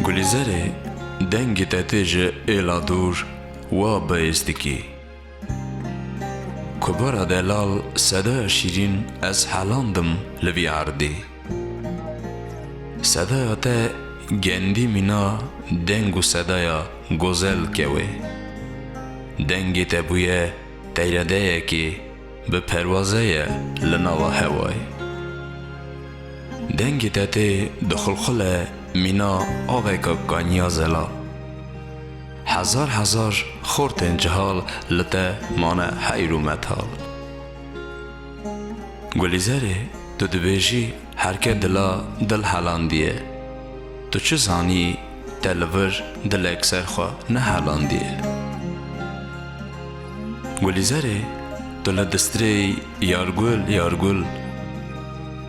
Gulîzerê dengê te tê ji êla dûr wa bi êz dikî. Kubara delal sedaya şîrîn ez helandim li vî erdê. Sedaya te gendî mîna deng û sedaya gozel ke wê. Dengê te bûye teyredeyekê bi perwazeye li nava hewayê. Dengê te tê dixulxule mîna aveka kaniya zela. Hezar hezar xortên cihal li te mane heyr û metal. Gulîzerê tu dibêjî herke dila dil helandiye. Tu çi zanî te li vir dilek ser xwe nehelandiye. Gulîzerê tu li distrêy yar gul yar gul.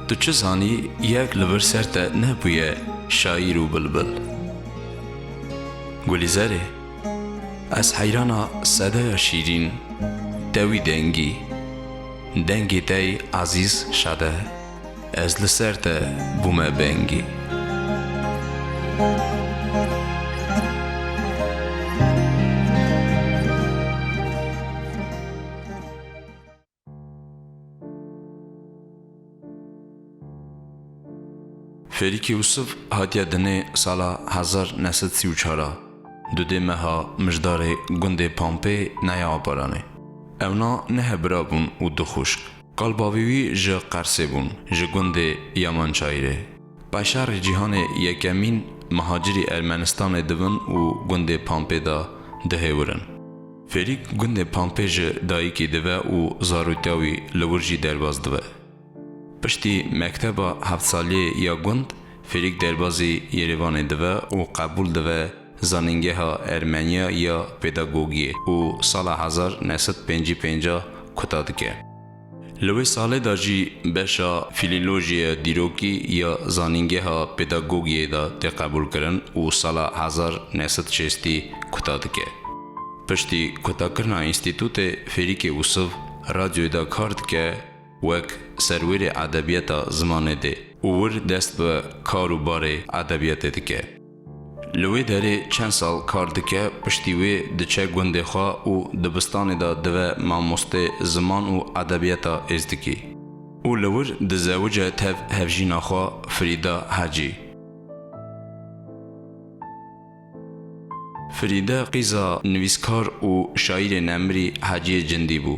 Tu çi zanî yek li vir ser te nebûye şaîr û bilbil. Gulîzerê, ez heyrana sedeya şîrîn, tewî dengî. Dengê te yê ezîz şede, ez li ser te bûme bengî. Fêrîk Yûsif hatiye dinê sala hezar new sed sî û çar a, du dê meha mijdarê gundê Pampê nayê Abaranê. Ewna ne hebira bûn û du xwişk. Qal bavê wî ji Qersê bûn, ji gundê Yamançayirê. Paşarê Cîhanê Yekemîn, mihacirî Ermenistanê dibin û gundê Pampê de dihêwirin. Ferîk gundê Pampê ji dayikî dive û zaroktiya wî li wir jî derbas dibe. Piştî mekteba heft saliyê ya gund Ferîk derbazî Yerêvanê dibe û qebûl dibe Zanîngeha Ermeniya ya Pedagogiyê û sala hezar new sed pêncî pêncah kuta dike. Li wê salê de jî beşa Fîlîlojiya Dîrokî ya Zanîngeha Pedagogiyê de tê qebûlkirin û sala hezar neh sed û şêstî kuta dike. Piştî kutakirina înstîtûtê Fêrîkê Ûsiv radyoyê de kar dike wek serwêrê edebiyeta zimanê dê û wir dest bi kar û barê edebiyatê dike. Li wê derê çend sal kar dike, piştî wê diçe gundê xwe û dibistanê de dive mamostê ziman û edebiyata êzdikî. Û li wir dizewice tev hevjîna xwe Firîde Hecî. Firîde qîza nivîskar û şaîrê nemirî Heciyê Cindî bû.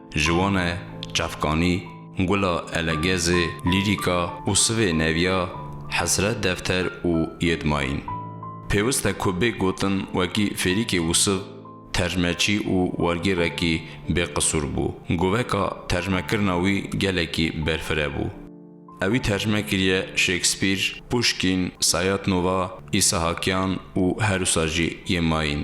Ji wan e Çavkanî, Gula Elegezê, Lîrîka û Sivê Nevya, Hesret Defter û Yêdmayîn. Pêwist e ku bê gotin wekî Fêrîkê Wisiv tercmeçî û wergêrekî bêqisûr bû. Goveka tercmekirina wî gelekî berfireh bû. Ewî tercme kiriye Şêkspîr, Puşkîn, Sayatnova, Îsahakyan û herwisa jî Yêmayîn.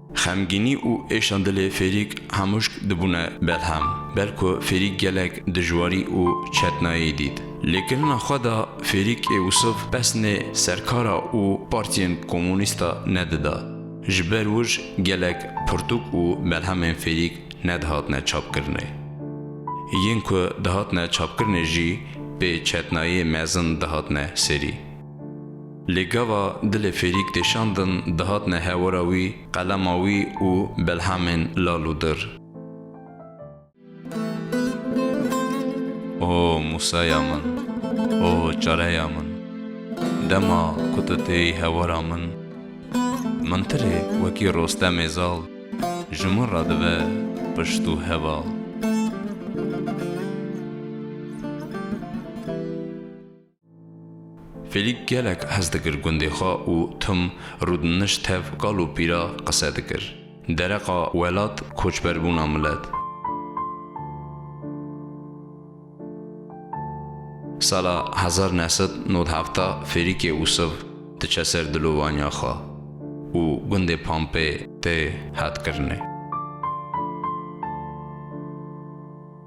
Xemgînî û êşa dilê Fêrîk Hemûşk dibûne belhem. Ber ku Fêrîk gelek dijwarî û çetnayî dît. Lê kirina xwe de Fêrîk ê Wisif pesnê serkara û partiyên komûnîsta nedida. Ji ber wij gelek pirtûk û belhemên Fêrîk nedihatine çapkirinê. Yên ku dihatine çapkirinê jî pê çetnayê mezin dihatine serî. Lê gava dilê fêrîk tê şandin dihatine hewira wî, qelema wî û belhemên lal û dir. O Musaya min, o çareya min, dema ku tu têyî hewira min, mintirê wekî Rostemê zal ji min re dibe pişt û heval. Felîk gelek hez dikir gundê xwe û tim rûdinişt tev kal û pîra qise dikir. Dereqa welat, koçberbûna milet. Sala hezar ne sed nod hefta Ferîkê Ûsiv diçe ser dilovaniya xwe û gundê Pampê tê hetkirine.